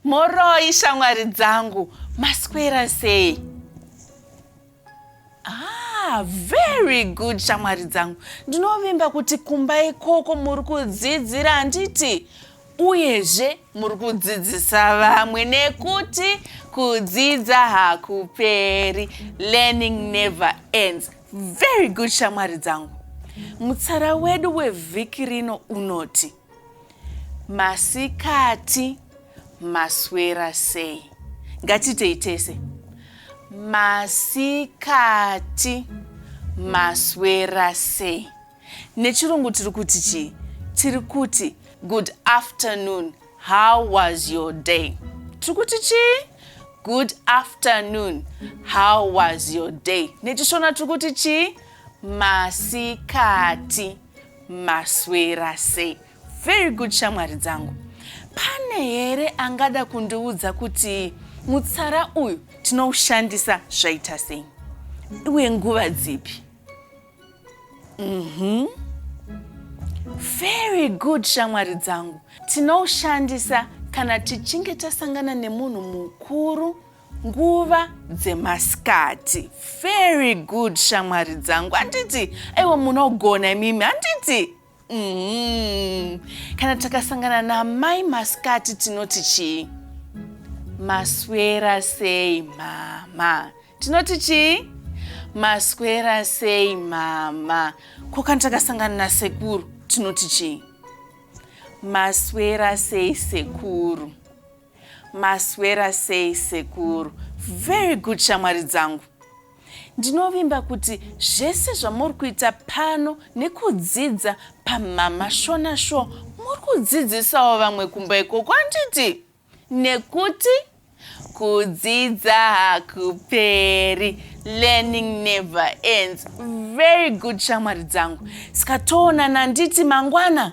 moroi shamwari dzangu maswera sei ah, very good shamwari dzangu ndinovimba kuti kumba ikoko muri kudzidzira handiti Uyezve muri kudzidzisa vamwe nekuti kudzidza hakuperi. Learning never ends. Very good shamwari dzangu. Mutsara wedu wevhiki rino unoti masikati maswera sei? Ngatiitei tese. Masikati maswera sei? Nechirungu tiri kuti chii? Tiri kuti good afternoon, how was your day? Tiri kuti chii? Good afternoon, how was your day? NechiShona tiri kuti chii? Masikati, maswera sei? Very good shamwari dzangu. Pane here angada kundiudza kuti mutsara uyu tinoushandisa zvaita sei uye nguva dzipi? Mhm. Very good shamwari dzangu. Tinoushandisa kana tichinge tasangana nemunhu mukuru nguva dzemasikati. Very good shamwari dzangu. Handiti aiwa munogona imimi handiti? Mm. Kana takasangana namai masikati tinoti chii? Maswera sei mama? Tinoti chii? Maswera sei mama? Ko kana takasangana nasekuru tinoti chii? Maswera sei sekuru? Maswera sei sekuru? Very good shamwari dzangu. Ndinovimba kuti zvese zvamuri kuita pano nekudzidza pamama Shona Show muri kudzidzisawo vamwe kumba ikoko handiti? Nekuti kudzidza hakuperi learning never ends very good shamwari dzangu saka toonana handiti mangwana